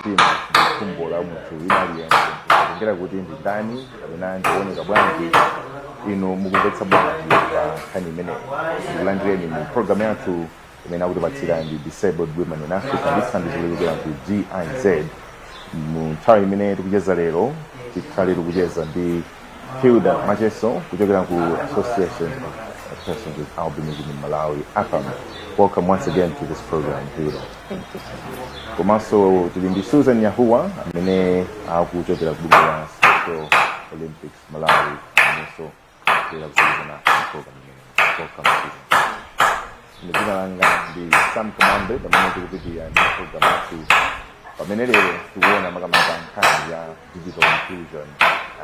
mtima ndi khumbo la munthu wina aliyense kutengera kuti ndi ndani kapena ndikuoneka bwanji inu mukumvetsa bwanji pa nkhani imeneyi ndikulandireni mu programu yathu imene akutipatsira ndi disabled women in africa ndi thandizo lochokera ku giz mu nthawi imene tikucheza lero tikhale tikucheza ndi Hilda Macheso kuchokera ku Association of Persons with Albinism in Malawi APAM. Welcome once again to this program Hilda. Thank you so much. Komanso tili ndi Susan Yahuwa amene akuchokera ku bungwe la Special Olympics Malawi amenenso kuchokera ku bungwe la program imeneyi. Welcome Susan. Dzina langa ndi Sam Kumambe pamene tikupitirira ndi program yathu pamene lero tikuona makamaka nkhani ya digital inclusion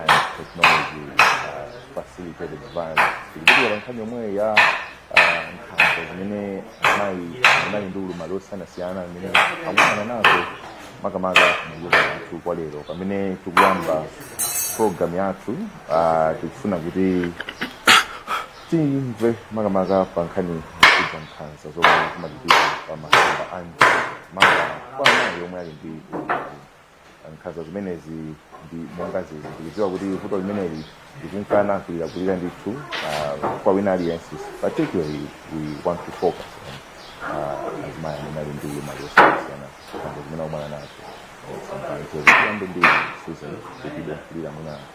and technology uh, facilitated violence tikupitirira pa nkhani yomweyo ya uh, nkhanza zimene amayi amene ali ndi ulumali osiyanasiyana zimene akukumana nazo makamaka mdziko yathu kwa lero pamene tikuyamba program yathu uh, tikufuna kuti Timve makamaka pa nkhani yokhudza nkhanza zomwe zimachitika pa masamba a mchezo maka kwa amayi omwe ali ndi nkhanza zimenezi ndi monga zili ndikudziwa kuti vuto limeneli likunkana kulirakulira ndithu uh, kwa wina aliyense particularly we want to focus on uh, azimayi amene ali ndi maluso osiyana nkhanza zimene akukumana nazo Sometimes, so ziyambe ndi Susan kuti idafulira mwina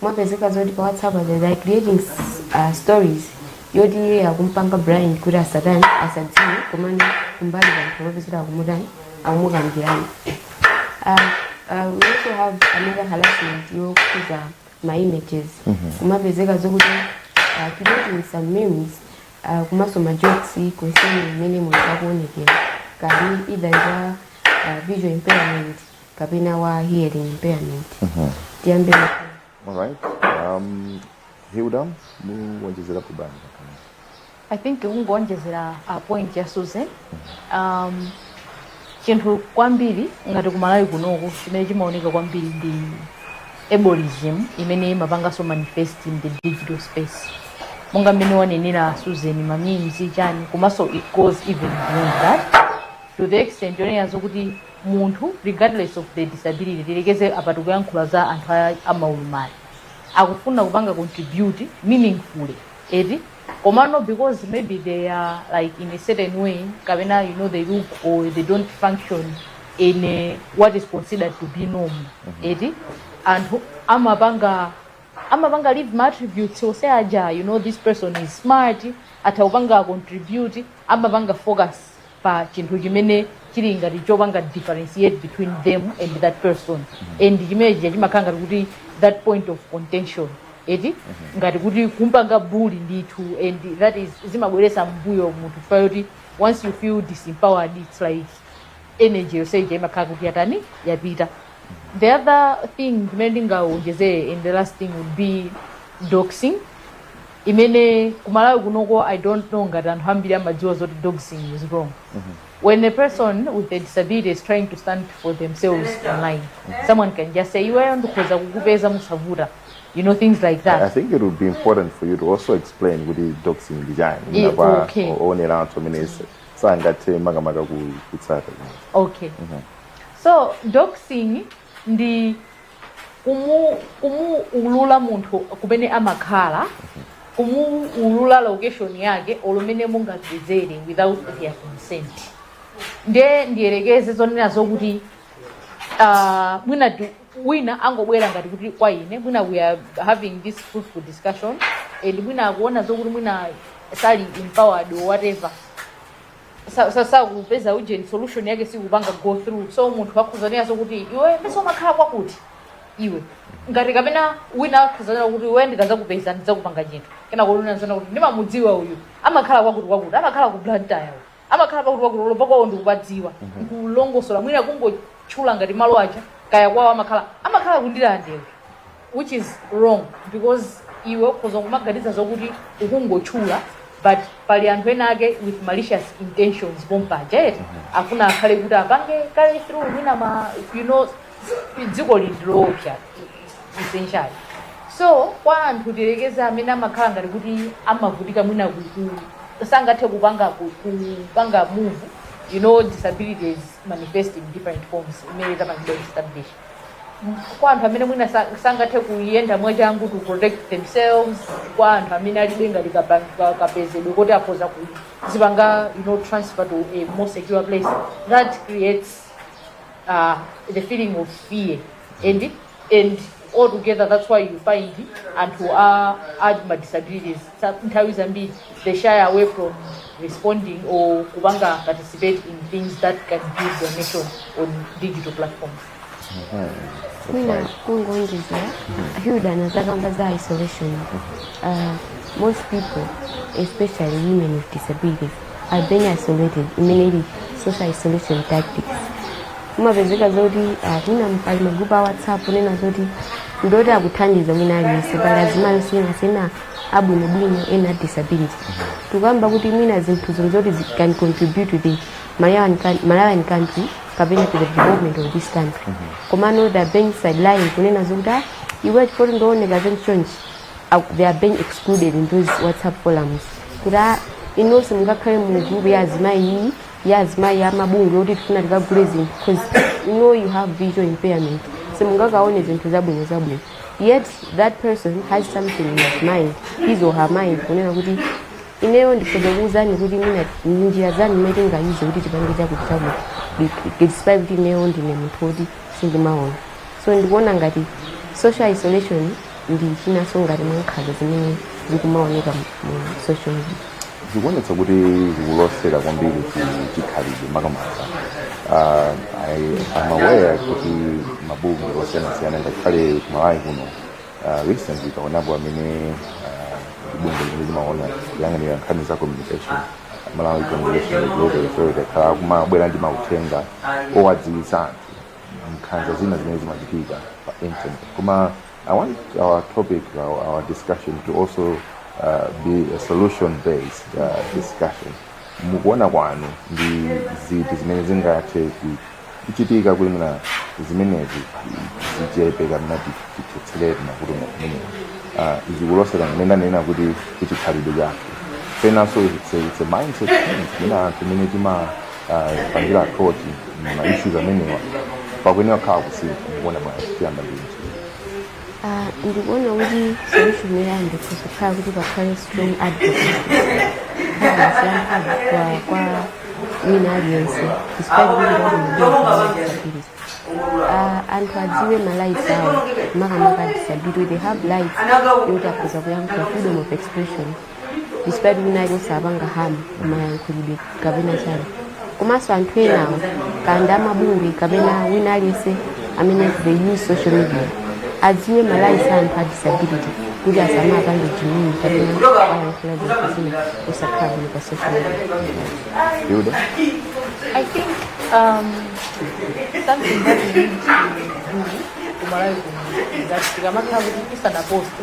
kumapezeka zoti pa whatsapp aja they are creating uh, stories yoti iye akumpanga blind kuti asatani asadziwe komano kumbali panthu kumapeza kuti akumutani akumukambirana Uh, uh, we also have another harassment yokhudza ma images kumapezeka zokuti uh, creating some memes uh, komanso ma jokes concerning mmene munthu akuonekera kaya either wa uh, visual impairment kapena wa hearing impairment tiyambe Alright. Um, Hilda, muonjezerapo bwanji. i think kungoonjezera a point ya susan um, chinthu kwambiri ngati kumalawi kunoko chimene chimaoneka kwambiri ndi ableism imene imapanganso manifest in the digital space monga mmene wanenera susan mamimzi chani komanso it goes even beyond that to the extent yonena zokuti munthu regardless of the disability tiyerekeze apa tikuyankhula za anthu a- amaulumali akufuna kupanga contribute meaningfully eti komano because maybe they act like in a certain way kapena you know they look or they don't function in a, what is considered to be norm eti anthu amapanga amapanga leave ma attributes onse aja you know this person is smart atha kupanga contribute amapanga focus pa chinthu chimene chili ngati chopanga differentiate between them and that person and chimene chija chimakhala ngati kuti that point of contention eti ngati kuti kumpanga bully ndithu and that is zimabweresa m'mbuyo munthu chifukwa choti once you feel disempowered it's like energy yonse ija imakhala kuti yatani yapita the other thing imene ndingawonjezere and the last thing would be doxing imene kumalawi kunoko i don't know ngati anthu ambiri amadziwa zoti doxing is wrong when a person with a disability is trying to stand for themselves online someone can just say iweyo ndikhoza kukupeza musavuta you know things like that I think it would be important for you to also explain kuti doxing ndi chani Eh, pena pake powonera anthu amene sangathe makamaka ku- kutsata okay So doxing ndi kumu kumuulula munthu kumene amakhala kumuulula location yake olo mmene mungadzedzere without their consent nde ndiyerekeze zonena zokuti uh, mwina ti- wina angobwera ngati kuti kwa ine mwina we are having this fruitful discussion and mwina akuona zokuti mwina sali empowered or whatever sa- sa- sakupeza ujeni solution yake sikupanga go through so munthu akhoza kunenanso kuti iwe paja umakhala kwakuti iwe ngati kapena wina akhoza kunena kuti iwe ndikazakupeza ndizakupanga chinthu kena olo kunena kuti ndimamudziwa uyu amakhala kwakuti kwakuti amakhala ku blantyre uyu amakhala kwakuti kwakuti ulova kwawo ndikupadziwa kulongosola mwina kungotchula ngati malo aja kaya kwawo amakhala amakhala ku ndirande which is wrong because iwe ukhoza kumaganiza zokuti ukungotchula but pali anthu ena ake with malicious intentions pompaja eti afuna akhale kuti apange carry through mwina ma you know dziko lindiloopsa essentially so kwa anthu tiyerekeze amene amakhala ngati kuti amavutika mwina kuku sangathe kupanga ku- kupanga move you know disabilities manifest in different forms imene tapangidwa establish kwa anthu amene mwina sa- sangathe kuyenda mwachangu to protect themselves kwa anthu amene alibe ngati kaba- ka- kapezedwe koti akhoza kuzipanga you know, transfer to a more secure place that creates uh, the feeling of fear and and altogether that's why you find anthu a a ma disabilities sa- nthawi zambiri they shy away from responding or kupanga participate in things that can build their nation on digital platforms mwina kungowonjezera hilda anazakamba za isolation uh, most people especially women with disabilities are being isolated imene ili social isolation tactics kumapezeka zoti uh, mwina pali magrupu a whatsapp onena zoti ndoti akuthandiza mwina aliyense pali azimayi osiyana siyana abwinobwino ena disability tikukamba kuti mwina zinthu zino zoti zi- can contribute to the malawian coun- malawian country kapena to the development of this country komano they are being sidelined kunena zokuti "Ah, iwe chifoti udzaoneka zinthu chonchi Ak- they are being excluded in those whatsapp forums kuti "Ah, inunso simungakhale mu group ya azimayi iyi ya azimayi amabungwe oti tifuna tikagule zinthu because you know you have visual impairment so simungakaone zinthu zabwino zabwino yet that person has something in his mind his or her mind kunena kuti ineyo ndikhoza kuwuzani kuti mwina ndi njira zanu mmene tingayize kuti tipange chakuti chakuti despite kuti ineyo ndine munthu woti sindimaona so ndikuona ngati social isolation ndi chinanso ngati mwa nkhanza zimene zikumaoneka mu- mu social media zikuonetsa kuti zikulosera kwambiri ku chikhalidwe makamaka Ah, I- I'm aware kuti mabungwe osiyanasiyana ngakhale kumalawi kuno ah, recently taonapo amene ah, bungwe limene limaona kuyang'anira nkhani za communication malawi communication regulatory authority akhala akumabwera ndi mauthenga owadziwitsa anthu nkhanza zina zimene zimachitika pa internet koma I want our topic, our, our discussion to also uh, be a solution-based uh, discussion. Mukuona kwanu ndi ziti zimene zingathe kuchitika kuti mwina zimenezi zichepe kapena tithetserere mavuto amene zikulosera ngati ndinena kuti kuchikhalidwe chathu penanso it's a, it's a mindset change mwina anthu mmene tima pangira kuti ma issues amenewa pakuyenera kukhala kusintha ndikuona bwanji tiyamba ndi Ah, ndikuona kuti solution yoyamba ndi yokhala kuti pakhale strong advocacy kwa kwa wina aliyense despite kuti ndi a disabilities anthu adziwe ma rights awo makamaka disability they have rights yoti akhoza kuyankhula freedom of expression despite kuti naye asapanga harm kumayankhulidwe kapena chani komanso anthu enawo kaya amabungwe kapena wina aliyense amene they use social media adziwe ma rights a anthu a disability kuti asamapange jimini kapena ayankhula zinthu zina zosakhala bwino pa social media Yuda? I think um, something that we need to do kumalawi kuno is that tikamakhala kuti tisanaposte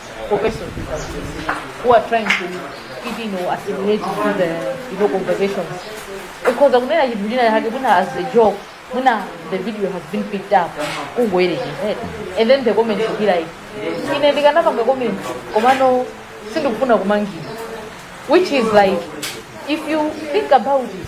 professor who are trying to fit in or assimilate to the you know conversations ukhoza kunena chinthu china chake mwina as a joke mwina the video has been picked up kungoyerekeza and then the comments will be like ine ndikanapanga comment komano sindikufuna kumangidwa which is like if you think about it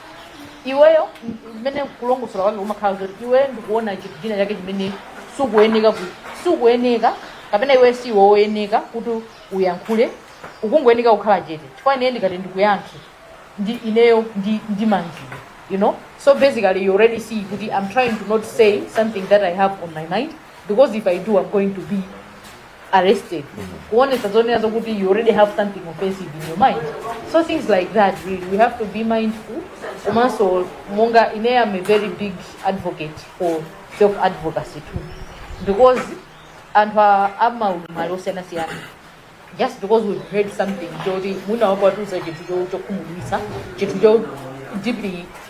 iweyo chimene kulongosola kwake kumakhala zoti iweyo ndikuona chinthu china chake chimene sukuyenera ku- sukuyenera kapena iwe si woyeneka kuti uyankhule ukungoyeneka kukhala chete chifukwa ine ndikati ndikuyankhe ineyo ndi ndimangidwa you know so basically you already see kuti i'm trying to not say something that i have on my mind because if i do i'm going to be arrested kuonetsa zonena zokuti you already have something offensive in your mind so things like that really we have to be mindful komanso monga ine I'm a very big advocate for self advocacy too because anthu a- amaulumali osiyanasiyana just because we've heard something choti mwina wakatiuza chinthu cho- chokhumudwitsa chinthu cho deeply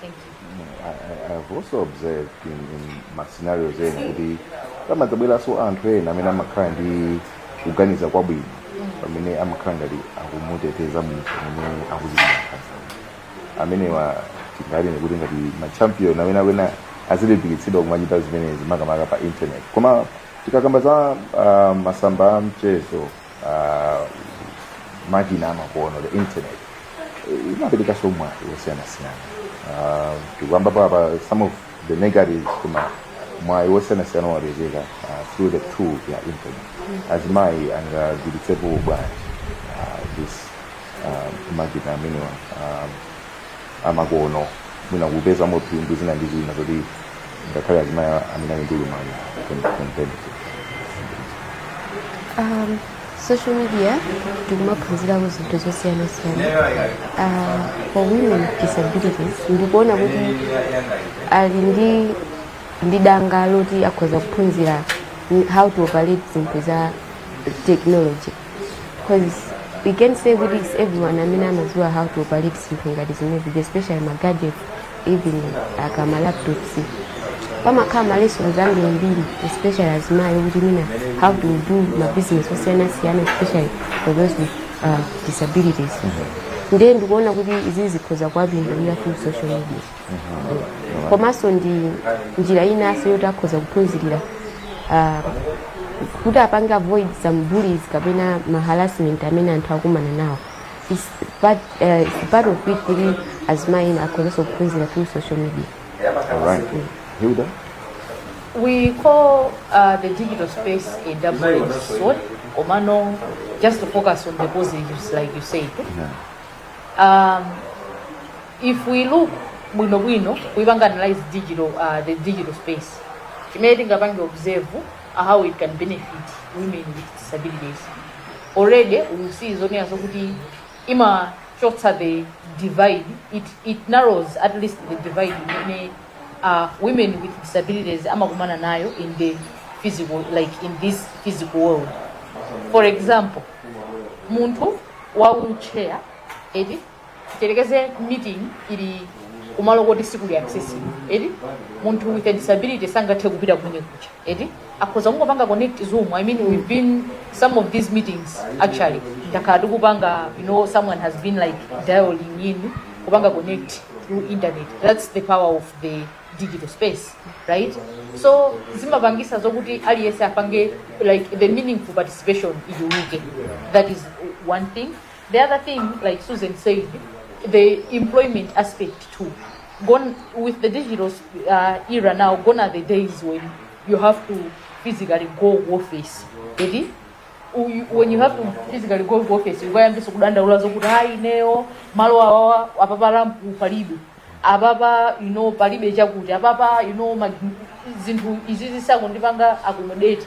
Thank you. Mm, I, I, I've also observed in, in ma scenario ena kuti pamadzabweranso anthu ena amene amakhala ndi kuganiza kwabwino pamene amakhala ngati akumuteteza munthu amene akuchitidwa nkhanza amenewa tinganene kuti ngati machampion amene akuyenera azilimbikitsidwa kumachita zimenezi makamaka pa internet koma tikakamba za uh, masamba a mchezo uh, makina amakono the internet eh, imaperekanso mwayi wosiyanasiyana uh, tikukamba apapa some of the negatives koma mwayi wosiyanasiyana wapezeka uh, through the tool ya internet azimayi angagwiritse ntchito bwanji uh, this uh, makina amenewa um, amakono mwina kupezamo phindu zina ndi zina zoti ngakhale azimai amene ali ndi ulumali can, can benefit um, social media tikumaphunzirako zinthu zosiyanasiyana uh, for women with disabilities ndikuona kuti ali ndi ndi danga loti akhoza kuphunzira how to operate zinthu za technology because we can't say kuti it's everyone amene amadziwa how to operate zinthu ngati zimenezi especially ma gadgets even kaya ma laptops pamakhala ma lessons ambirimbiri especially azimayi kuti mwina how to do ma business osiyanasiyana especially for those with uh, disabilities ndiye ndikuona kuti izi zikhoza kuwapindulira through social media komanso ndi njira inanso yoti akhoza kuphunzirira ah, kuti apange avoid some bullies kapena ma harassment amene anthu akumana nawo It's part, eh, it's part of it kuti azimayi ena akhozanso kuphunzira through social media All right. Hilda? We call uh, the digital space a double-edged sword, Komano, just to focus on the positives, like you said. Yeah. Um, if we look bwinobwino kuipanga analyze digital uh, the digital space chimene tingapange observe uh, how it can benefit women with disabilities already we see zonena zokuti imachotsa the divide it, it narrows at least the divide imene uh, women with disabilities amakumana nayo in the physical like in this physical world for example munthu wa wheelchair eti tiyerekeze meeting ili kumalo koti si kuli accessible eti munthu with a disability sangathe kupita kumene kucha eti akhoza kungopanga connect zoom i mean we've been some of these meetings actually takhala tikupanga you know someone has been like dialing in kupanga connect through internet that's the power of the digital space right so zimapangisa zokuti aliyense apange like the meaningful participation ichuluke that is one thing The other thing, like Susan said, the employment aspect too. Gone with the digital uh, era now, gone are the days when you have to physically go office. Edi? Uyu- When you have to physically go office, you goyamba kudandaula zokuti hayi neyo malo awawa apapa lampu palibe apapa you know palibe chakuti apapa you know ma- zinthu izi zisakundipanga accommodate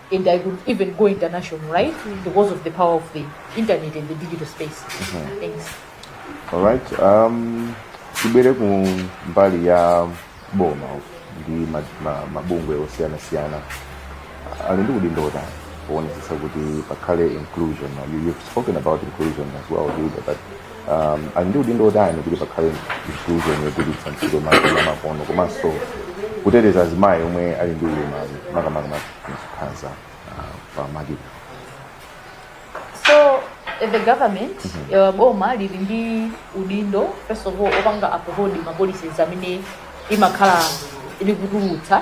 and I could even go international, right? Because of the power of the internet and the digital space. Thanks. Alright, um, tibwere ku mbali ya boma ndi ma- ma- mabungwe osiyanasiyana ali ndi udindo wotani poonetsetsa kuti pakhale inclusion Now, you, you've spoken about inclusion as well Julia, but um, ali ndi udindo wotani kuti pakhale inclusion yogwiritsa ntchito makina amakono komanso kuteteza azimayi omwe ali ndi ulumali makamaka nkhanza uh, pa makina so eh, the government eh, boma lili ndi udindo first of all opanga uphold ma policies amene imakhala likutulutsa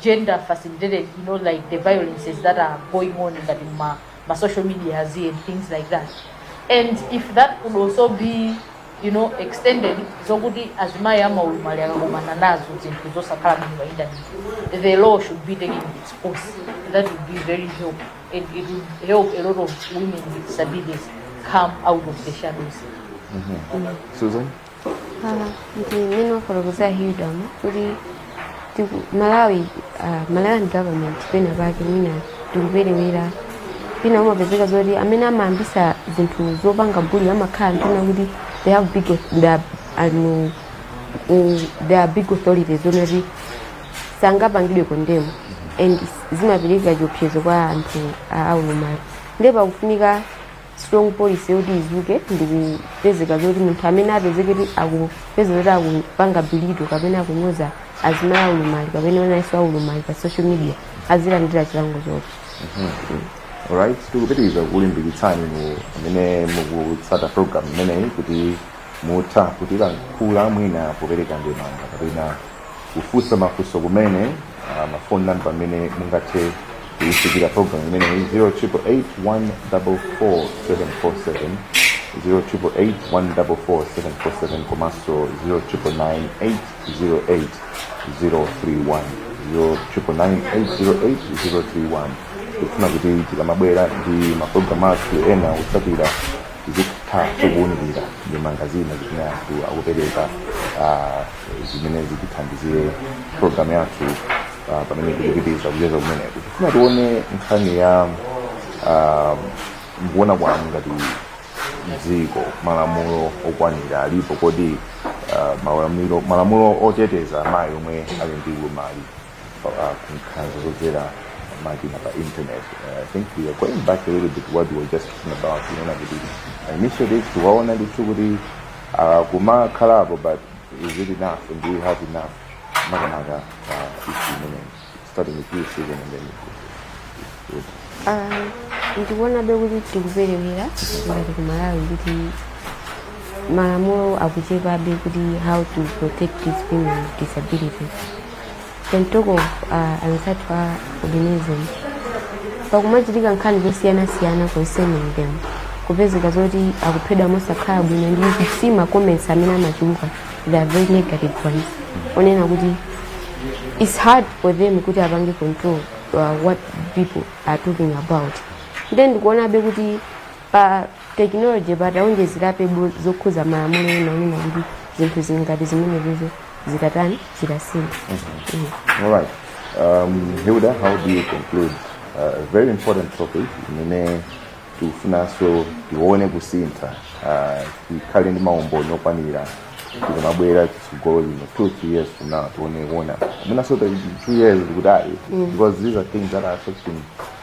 gender facilitated you know like the violences that are going on ngati ma, ma social media and things like that and if that could also be you know extended zokuti azimayi amaulumali akakumana nazo zinthu zosakhala bwino pa internet the law should be taken its course that would be very help and it would help a lot of women with disabilities come out of the shadows Susan? Ah, ndi mmene wafotokozera hilidom kuti tiku- malawi ah, malawian government pena pake mwina tikuperewera pena umapezeka zoti amene amayambisa zinthu zopanga bully amakhala anthu ena oti they have big au- they are- anu- mm, they are big authorities zonati sangapangidwe condemn and zimapereka chiopsezo kwa anthu a aulumali ndiye pakufunika strong policy yoti izikhazikitsidwa zoti munthu amene apezeke kuti akupeza zoti akupanga belittle kapena akunyoza azimai aulumali kapena enanso aulumali pa social media azilandira chilango choti Alright, tikupitiriza kukulimbikitsani inu amene mukutsata program imeneyi kuti mutha kutilankhula mwina kupereka ndemanga kapena kufunsa mafunso kumene ah, mafoni namba amene mungathe kuifikira program imeneyi 0881444747 0881444747 komanso 0998088031 0998088031 tikufuna kuti tikamabwera ndi maprogramu athu ena otsatira tizitha kukuwunikira ndemanga zina zimene anthu akupereka ah, zimene zitithandizire programu yathu ah, pamene tikupitiriza kucheza kumeneku tifuna tione nkhani ya ah, mukuona kwanu, ngati dziko malamulo okwanira alipo kodi ah, malamulo- malamulo oteteza amayi omwe ali ndi ulumali ah, ku nkhanza zodzera makina a internet Eh, i think we are going back a little bit to what we were just talking about kuona kuti initiatives timaona ndithu kuti ah, kumakhalapo but is really enough and do you have enough makamaka uh, issue imeneyi starting with you Susan and then with- Ah, ndikuonabe kuti tikuperewera ngati ku Malawi kuti malamulo akuchepabe kuti how to protect these women with disabilities St. Talk of uh, anzathu a albinism pakumachitika nkhani zosiyanasiyana concerning them kupezeka zoti akuphedwa mosakhala bwino ndiye si ma comments amene amachuluka they are very negative ones onena kuti it's hard for them kuti apange control uh, what people are talking about nde ndikuonabe kuti pa Technology pa atawonjezerapobe zokhuza malamulo ena onena kuti zinthu zili ngati zimenezizo zitatani zitasintha Mm. All right. Um, Hilda, how do you conclude uh, a very important topic imene tikufunanso tione kusintha uh, tikhale ndi maumboni okwanira tizamabwera kutsogolo lino two three years from now tione kuona amenanso two years kuti ayi Mm. because these are things that are affecting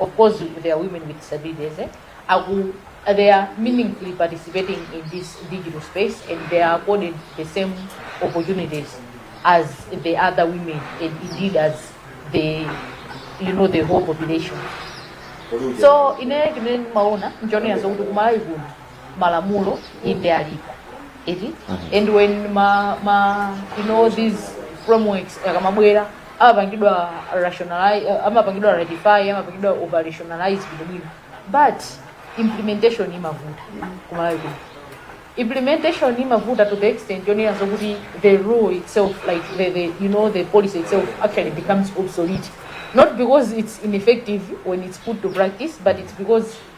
of course there are women with disabilities eh? Aku, they are meaningfully participating in this digital space and they are accorded the same opportunities as the other women and indeed as the you know the whole population so ine chimene maona nchonena zokuti kumalawi kuno malamulo inde alipo eti and when ma, ma you know these frameworks akamabwera amapangidwa rationalize uh, amapangidwa ratify amapangidwa operationalize bwino bwino but implementation imavuta ku Malawi kuno implementation imavuta to the extent yonena zokuti the rule itself like the, the you know the policy itself actually becomes obsolete not because it's ineffective when it's put to practice but it's because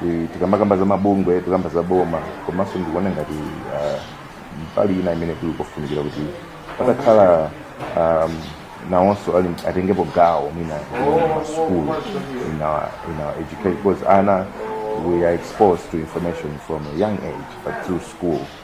Ti- tikamakamba za mabungwe tikukamba za boma komanso ndikuona ngati ah, mbali ina imene kuli kofunikira kuti patakhala um, nawonso ali atengepo gawo mwina ma school in our, in our education because ana we are exposed to information from a young age but through school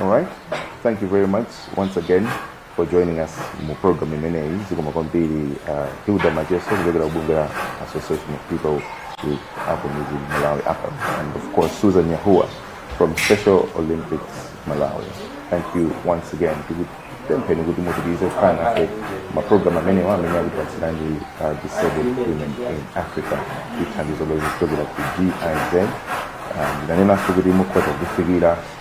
All right. Thank you very much once again for joining us mu program imeneyi zikomo kwambiri uh, Hilda Macheso kuchokera kubungwe la Association of People with Albinism Malawi APAM, and of course Susan Yahua from Special Olympics Malawi thank you once again tikupempheni kuti mupitirize kukhala nafe m'maprogram amenewa amene akukupatsirani uh, Disabled Women in Africa ndi thandizo lochokera ku GIZ um, tanenanso kuti mukhoza kuwafikira